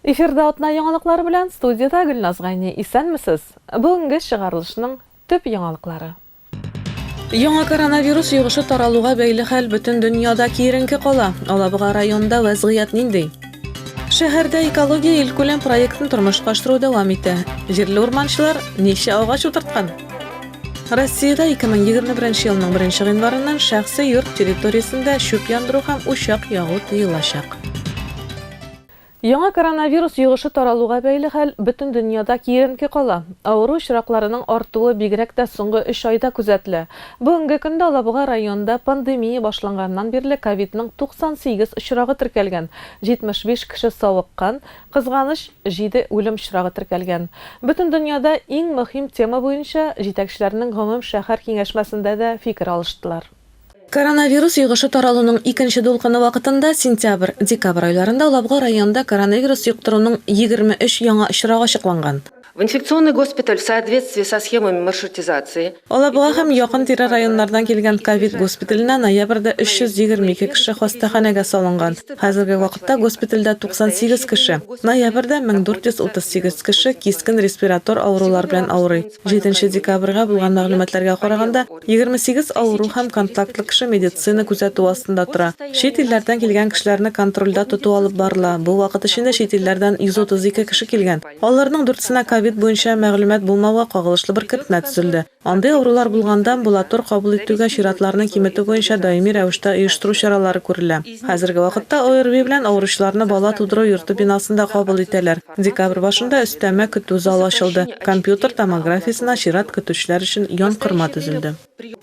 Эфирда атна яңалыклары белән студиядә Гөлназ Гайни. Исәнмесез! Бүгенге чыгарылышның төп яңалыклары. Яңа коронавирус йогышы таралуга бәйле хәл бөтен дөньяда киеренке кала. Алабуга районында вәзгыять нинди? Шәһәрдә экология илкүләм проектын тормышка ашыру дәвам итә. Җирле урманчылар ничә агач утырткан? Россиядә 2021 елның 1 гыйнварыннан шәхси йорт территориясендә чүп яндыру һәм учак ягу тыелачак. Яңа коронавирус йогышы таралуга бәйле хәл бөтен дөньяда киеренке кала. Авыру очракларының артуы бигрәк тә соңгы өч айда күзәтелә. Бүгенге көндә Алабуга районында пандемия башланганнан бирле ковидның 98 очрагы теркәлгән, 75 кеше савыккан, Кызганыч, җиде үлем очрагы теркәлгән. Бөтен дөньяда иң мөһим тема буенча җитәкчеләрнең гомум шәһәр киңәшмәсендә дә фикер алыштылар. Коронавирус йогышы таралуның икенче дулкыны вакытында сентябрь, декабрь айларында Лабга районында коронавирус йоктыруның егерме өч яңа очрагы ачыкланган. В инфекционный госпиталь в соответствии со схемами маршрутизации. Алабуга һәм якын-тирә районнардан килгән ковид госпиталенә ноябрьдә 322 кеше хастаханәгә салынган. Хәзерге вакытта госпитальдә 98 кеше. Ноябрьдә 1438 кеше кискен респиратор авырулар белән авырый. Җиденче декабрьгә булган мәгълүматларга караганда, 28 авыру һәм контактлы кеше медицина күзәтүе астында тора. Чит илләрдән килгән кешеләрне контрольдә тоту алып барыла. Бу вакыт эчендә чит илләрдән 132 кеше килгән. Аларның дүртсенә ковид буенча мәгълүмат булмауга кагылышлы беркетмә төзелде. Андый авырулар булганда, амбулатор кабул итүгә чиратларны киметү буенча даими рәвештә оештыру чаралары күрелә. Хәзерге вакытта ОРВИ белән авыручыларны бала тудыру йорты бинасында кабул итәләр. Декабрь башында өстәмә көтү залы ачылды, компьютер томографиясенә чират көтүчеләр өчен янкорма төзелде.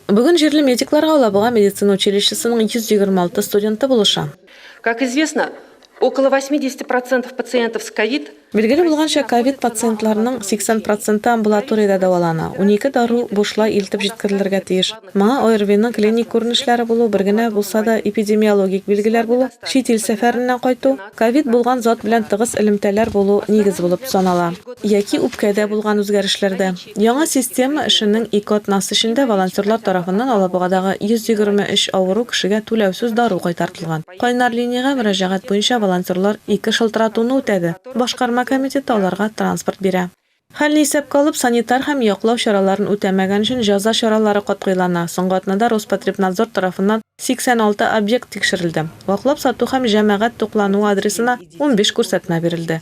Бүген җирле медикларга Алабуга медицина училищесының 126 студенты булыша. Как известно, Около 80 процентов пациентов с ковид. Билгеле булганча, ковид пациентларының 80 проценты амбулаториядә дәвалана. Унике дару бушлай илтеп җиткерелергә тиеш. Моңа ОРВИның клиник күренешләре булу, бер генә булса да эпидемиологик билгеләр булу, чит ил сәфәреннән кайту, ковид булган зат белән тыгыз элемтәләр булу нигез булып санала, яки үпкәдә булган үзгәрешләрдә. Яңа система эшенең ике атнасы эчендә волонтерлар тарафыннан алабугадагы 123 авыру кешегә түләүсез дару кайтартылган. Кайнар линиягә мөрәҗәгать буенча волонтерлар ике шылтыратуны үтәде, башкарма комитеты аларга транспорт бирә. Хәлне исәпкә алып, санитар һәм яклау чараларын үтәмәгән өчен җәза чаралары катгыйлана. Соңгы атнада Роспотребнадзор тарафыннан 86 объект тикшерелде. Ваклап сату һәм җәмәгать туклануы адресына унбиш күрсәтмә бирелде.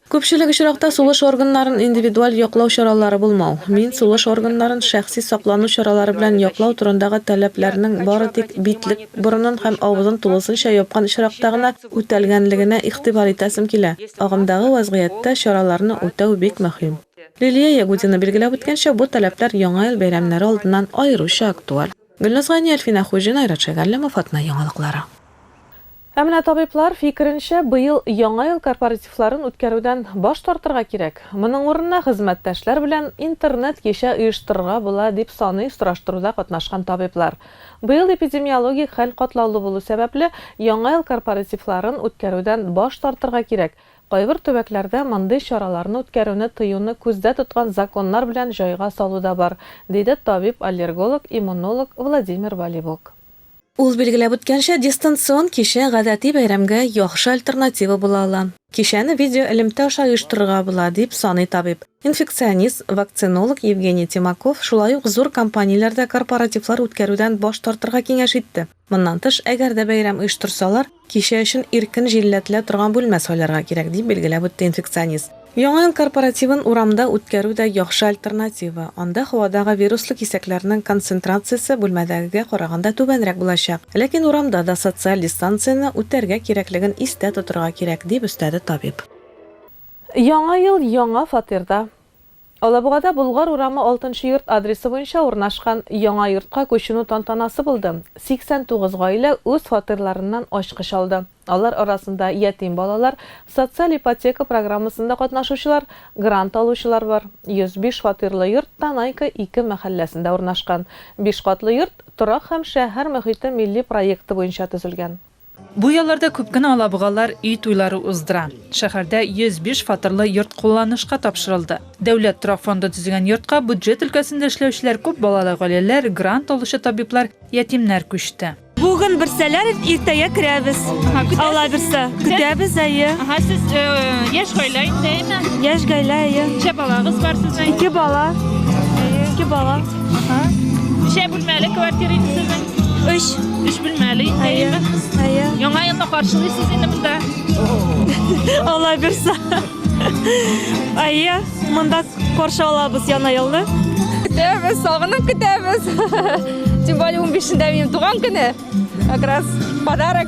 Күпчелек очракта сулыш органнарын индивидуаль яклау чаралары булмау, мин сулыш органнарын шәхси саклану чаралары белән яклау турындагы таләпләрнең бары тик битлек, борынын һәм авызын тулысынча япкан очракта гына үтәлгәнлегенә игътибар итәсем килә. Агымдагы вәзгыятьтә чараларны үтәү бик мөһим. Лилия Ягудина билгеләп үткәнчә, бу таләпләр Яңа ел бәйрәмнәре алдыннан аеруча актуаль. Гөлназ Гани, Әлфинә Хуҗина, Айрат Шәйгалләмов, Атна яңалыклары. Ә менә табиблар фикеренчә, быел Яңа ел корпоративларын үткәрүдән баш тартырга кирәк. Моның урынына хезмәттәшләр белән интернет-кичә оештырырга була, дип саный сораштыруда катнашкан табиблар. Быел эпидемиологик хәл катлаулы булу сәбәпле, Яңа ел корпоративларын үткәрүдән баш тартырга кирәк, Кайбер төбәкләрдә мондый чараларны үткәрүне тыюны күздә тоткан законнар белән җайга салу да бар, диде табиб-аллерголог, иммунолог Владимир Валибук. Ул билгеләп үткәнчә, дистанцион кичә гадәти бәйрәмгә яхшы альтернатива була ала. Кичәне видеоэлемтә аша оештырырга була, дип саный табиб. Инфекционист, вакцинолог Евгений Тимаков шулай ук зур компанияләрдә корпоративлар үткәрүдән баш тартырга киңәш итте. Моннан тыш, әгәр дә бәйрәм оештырсалар, Кичә өчен иркен җилләтелә торган бүлмә сайларга кирәк, дип билгеләп үтте инфекционист. Яңа ел корпоративын урамда үткәрү дә яхшы альтернатива, анда һавадагы вируслы кисәкләрнең концентрациясе бүлмәдәгегә караганда түбәнрәк булачак. Ләкин урамда да социаль дистанцияне үтәргә кирәклеген истә тотырга кирәк, дип өстәде табиб. Яңа ел, яңа фатирда. Алабугада Болгар урамы алтынчы йорт адресы буенча урнашкан яңа йортка күченү тантанасы булды. 89 гаилә үз фатирларыннан ачкыч алды. Алар арасында ятим балалар, социаль ипотека программасында катнашучылар, грант алучылар бар. 105 фатирлы йорт Танайка 2 мәхәлләсендә урнашкан. Биш катлы йорт, торак һәм шәһәр мохите милли проекты буенча төзелгән. Бу ялларда күп кенә алабугалар өй туйлары уздыра. Шәһәрдә 105 фатирлы йорт кулланышка тапшырылды. Дәүләт торак фонды төзегән йортка бюджет өлкәсендә эшләүчеләр, күп балалы гаиләләр, грант алучы табиблар, ятимнәр күчте. Бүген бирсәләр, иртәгә керәбез. Аллабирса, көтәбез, әйе. Ага, сез яшь гаилә инде, әйме? Яшь гаилә, әйе. Ничә балагыз бар сезнең? Ике бала. Ике бала. Ага. Ничә бүлмәле квартира инде сезнең? Өч. Өч бүлмәле инде. Әйе. Әйе. Яңа елны каршылыйсыз инде монда. Алла бирса. Әйе, монда каршы алабыз яңа елны. Көтәбез, сагынып көтәбез. Тем более 15-ндә минем туган көне. Как раз подарок.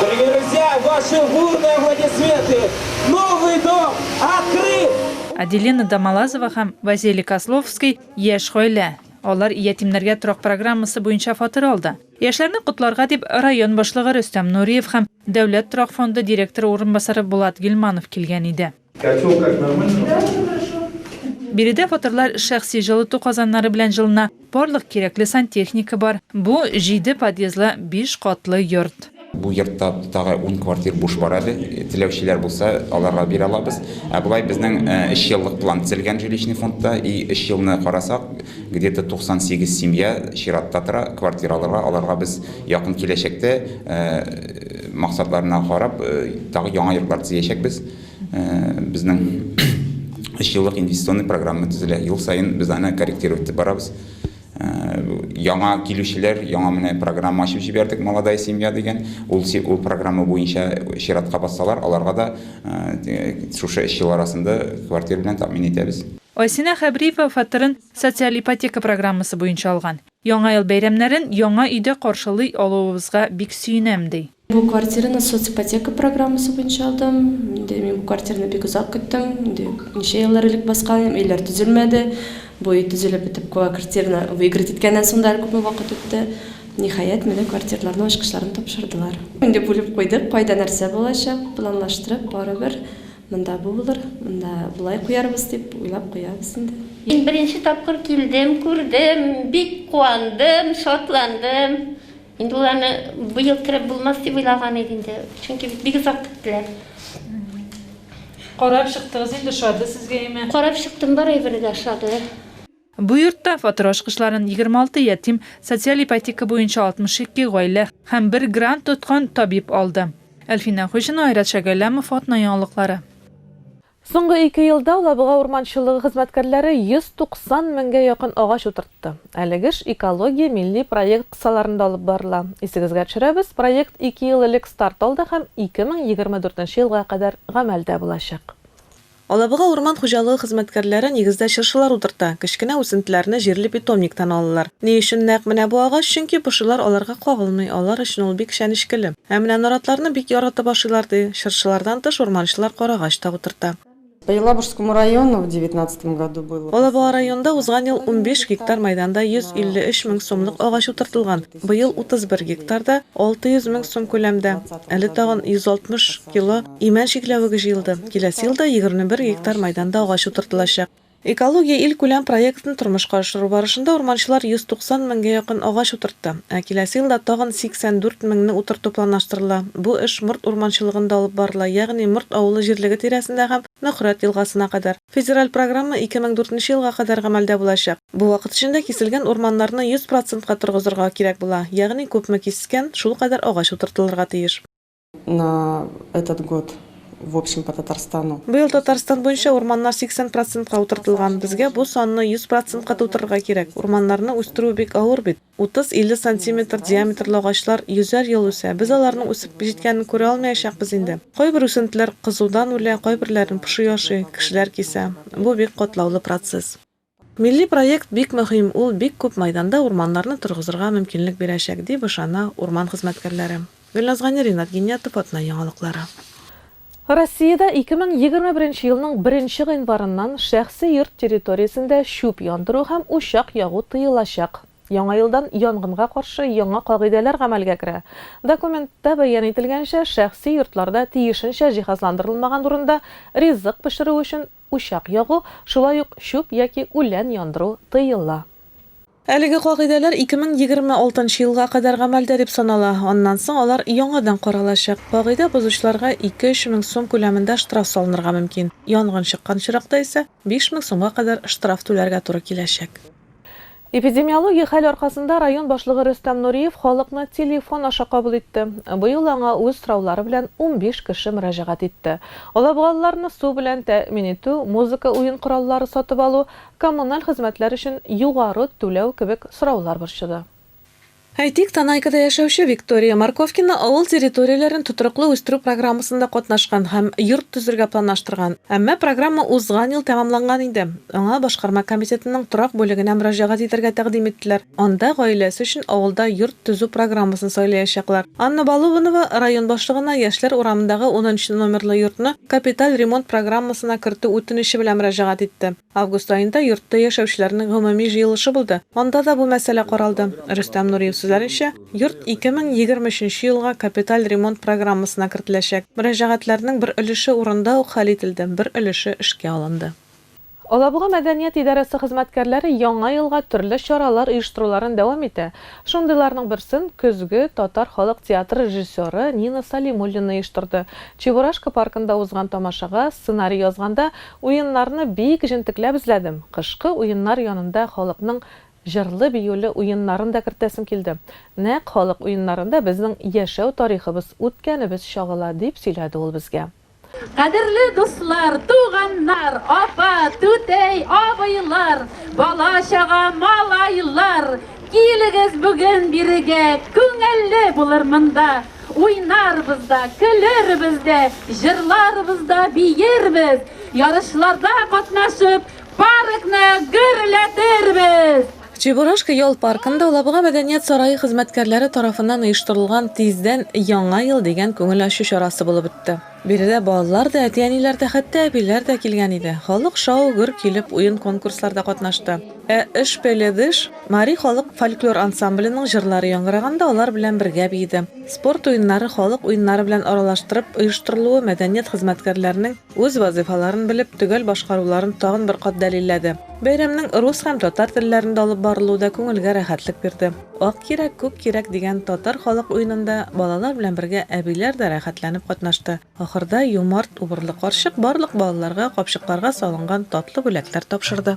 Дорогие друзья, ваши бурные аплодисменты! Новый дом открыт! Аделина Домолазова һәм Василий Козловский яшь гаилә. Алар ятимнәргә торак программасы буенча фатир алды. Яшьләрне котларга дип район башлыгы Рөстәм Нуриев һәм Дәүләт торак фонды директоры урынбасары Булат Гилманов килгән иде. Котел как нормально? Да, все хорошо. Биредә фатирлар шәхси җылыту казаннары белән җылына, барлык кирәкле сантехника бар. Бу, җиде подъездлы биш катлы йорт. Бу йортта тагы ун квартир буш бар әле. Теләүчеләр булса, аларга бирә алабыз. Ә болай безнең өч еллык план төзелгән жилищный фондта. И өч елны карасак, где-то 98 семья чиратта тора, квартира алырга. Аларга без якын киләчәктә максатларына карап, тагы яңа йортлар төзиячәкбез. безнең өч еллык инвестиционный программа төзелә. Ел саен без аны корректировать итеп барабыз. Яңа килүчеләр, яңа менә программа ачып җибәрдек, Молодая семья дигән. Ул ул программа буенча чиратка бассалар, аларга да шушы өч ел арасында квартира белән тәэмин итәбез. Айсинә Хәбриева фатирын социаль ипотека программасы буенча алган. Яңа ел бәйрәмнәрен яңа өйдә каршылый алуыбызга бик сөенәм, ди. Бу квартираны соципотека программасы буенча алдым. Инде мин бу квартираны бик озак көттем. Инде ничә еллар элек баскан идем, өйләр төзелмәде. Бу өй төзелеп бетеп, квартираны выиграть иткәннән соң да әле күпме вакыт үтте. Ниһаять, менә квартирларның ачкычларын тапшырдылар. Инде бүлеп куйдык, кайда нәрсә булачак, планлаштырып, барыбер монда бу булыр, монда болай куярбыз дип уйлап куябыз инде. Мин беренче тапкыр килдем, күрдем, бик куандым, шатландым. Инде ул аны быел кереп булмас дип уйлаган иде инде, чөнки бит бик озак көттеләр. Карап чыктыгыз инде, ошады сезгә яме? Карап чыктым, бар әйбере дә ошады. Бу йортта фатир ачкычларын егерме алты ятим, социаль ипотека буенча алтмыш ике гаилә һәм бер грант тоткан табиб алды. Әлфинә Хуҗина, Айрат Шәгәләмов, Атна яңалыклары. Соңгы ике елда Лабуга урманчылыгы хезмәткәрләре 190 меңгә якын агач утыртты. Әлеге эш Экология милли проект кысаларында алып барыла. Исегезгә төшерәбез, проект ике ел элек старт алды һәм 2024 елга кадәр гамәлдә булачак. Алабуга урман хуҗалыгы хезмәткәрләре нигездә чыршылар утырта, кечкенә үсентеләрне җирле питомниктан алалар. Ни өчен нәкъ менә бу агач? Чөнки пошилар аларга кагылмый, алар өчен ул бик чәнечкеле. Ә менә наратларны бик яратып ашыйлар, ди. Чыршылардан тыш урманчылар карагач та утырта. По Елабужскому району в девятнадцатом году было Алабуга районында узган ел унбиш гектар мәйданда 153 мең сумлык агач утыртылган, быел 31 гектарда, 600 мең сум күләмдә. Әле тагын 160 кило имән чикләвеге җыелды. Киләсе елда 21 гектар мәйданда агач утыртылачак. Экология илкүләм проектын тормышка ашыру барышында урманчылар 190 меңгә якын агач утыртты, ә киләсе елда тагын 84 меңне утырту планлаштырыла. Бу эш Морт урманчылыгында алып барыла, ягъни Морт авылы җирлеге тирәсендә һәм Нөхрәт елгасына кадәр. Федераль программа 2004 нче елга кадәр гамәлдә булачак. Бу вакыт эчендә киселгән урманнарны 100 процентка торгызырга кирәк була, ягъни күпме кискән, шулкадәр агач утыртылырга тиеш. Быел Татарстан буенча урманнар 80 процентка утыртылган. Безгә бу санны 100 процентка тутырырга кирәк. Урманнарны үстерү бик авыр бит. 30-50 сантиметр диаметрлы агачлар йөзәр ел үсә. Без аларның үсеп җиткәнен күрә алмаячакбыз инде. Кайбер үсентеләр кызудан үлә, кайберләрен поши ашый, кешеләр кисә. Бу бик катлаулы процесс. Милли проект бик мөһим, ул бик күп мәйданда урманнарны торгызырга мөмкинлек бирәчәк, дип ышана урман хезмәткәрләре. Гөлназга Ни, Ринат Гиниятов, Атна яңалыклары. Россиядә 2021 елның беренче гыйнварыннан шәхси йорт территориясендә чүп яндыру һәм учак ягу тыелачак. Яңа елдан янгынга каршы яңа кагыйдәләр гамәлгә керә. Документта бәян ителгәнчә, шәхси йортларда тиешенчә җиһазландырылмаган урында ризык пешерү өчен Учак ягу, шулай ук чүп яки үлән яндыру тыела. Әлеге кагыйдәләр 2026 елга кадәр гамәлдә дип санала, аннан соң алар яңадан каралачак. Кагыйдә бозучыларга 2-3 мең сум күләмендә штраф салынырга мөмкин, янгын чыккан очракта исә 5 мең сумга кадәр штраф түләргә туры киләчәк. Эпидемиологик хәл аркасында район башлыгы Рөстәм Нуриев халыкны телефон аша кабул итте. Быел аңа үз сораулары белән унбиш кеше мөрәҗәгать итте. Алабугалыларны су белән тәэмин итү, музыка уен кораллары сатып алу, коммуналь хезмәтләр өчен югары түләү кебек сораулар борчыды. Әйтик, Танайкада яшәүче Виктория Морковкина авыл территорияләрен тотрыклы үстерү программасында катнашкан һәм йорт төзергә планлаштырган. Әмма программа узган ел тәмамланган иде. Аңа башкарма комитетының торак бүлегенә мөрәҗәгать итәргә тәкъдим иттеләр. Анда гаиләсе өчен авылда йорт төзү программасын сайлаячаклар. Анна Балубанова район башлыгына яшьләр урамындагы унынчы номерлы йортны капиталь ремонт программасына кертү үтенече белән мөрәҗәгать итте. Август аенда йортта яшәүчеләрнең гомуми җыелышы булды, анда да бу мәсьәлә каралды. Рөстәм Нуриев сүзләренчә, йорт 2023 елга капиталь ремонт программасына кертеләчәк. Мөрәҗәгатьләрнең бер өлеше урында ук хәл ителде, бер өлеше эшкә алынды. Алабуга мәдәният идарәсе хезмәткәрләре Яңа елга төрле чаралар оештыруларын дәвам итә. Шундыйларның берсен көзге татар халык театры режиссеры Нина Салимуллина оештырды. Чебурашка паркында узган тамашага сценарий язганда Уеннарны бик җентекләп эзләдем. Кышкы уеннар янында халыкның җырлы-биюле уеннарын да кертәсем килде. Нәкъ халык уеннарында безнең яшәү тарихыбыз, үткәнебез чагыла, дип сөйләде ул безгә. Кадерле дуслар, туганнар, апа, түтәй, абыйлар, бала-чага, малайлар, килегез бүген бирегә, күңелле булыр монда. Уйнарбыз да, көлербез дә, җырларбыз да, биербез! Ярышларда катнашып, паркны гөрләтербез! Чебурашка ял паркында Алабуга мәдәният сарае хезмәткәрләре тарафыннан оештырылган Тиздән Яңа ел дигән күңел ачу чарасы булып үтте. Биредә балалар да, әти-әниләр дә, хәтта әбиләр дә килгән иде. Халык шау-гөр килеп, уен-конкурсларда катнашты. Ә Ыш пеледыш мари халык фольклор ансамбленең җырлары яңгыраганда алар белән бергә биеде. Спорт уеннары халык уеннары белән аралаштырып оештырылуы мәдәният хезмәткәрләренең үз вазыйфаларын белеп, төгәл башкаруларын тагын бер кат дәлилләде. Бәйрәмнең рус һәм татар телләрендә алып барылуы да күңелгә рәхәтлек бирде. Ак йөрәк, күк йөрәк дигән татар халык уенында балалар белән бергә әбиләр дә рәхәтләнеп катнашты. Ахырда юмарт, убырлы карчык барлык балаларга капчыкларга салынган татлы бүләкләр тапшырды.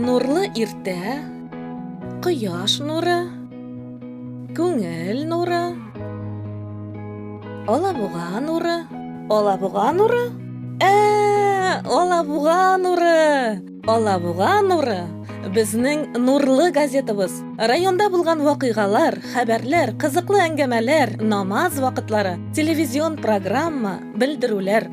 Нурлы иртә, кояш нуры, күңел нуры, алабуга нуры. Алабуга нуры? Ә, алабуга нуры! Алабуга нуры безнең нурлы газетабыз. Районда булган вакыйгалар, хәбәрләр, кызыклы әңгәмәләр, намаз вакытлары, телевизион программа, белдерүләр.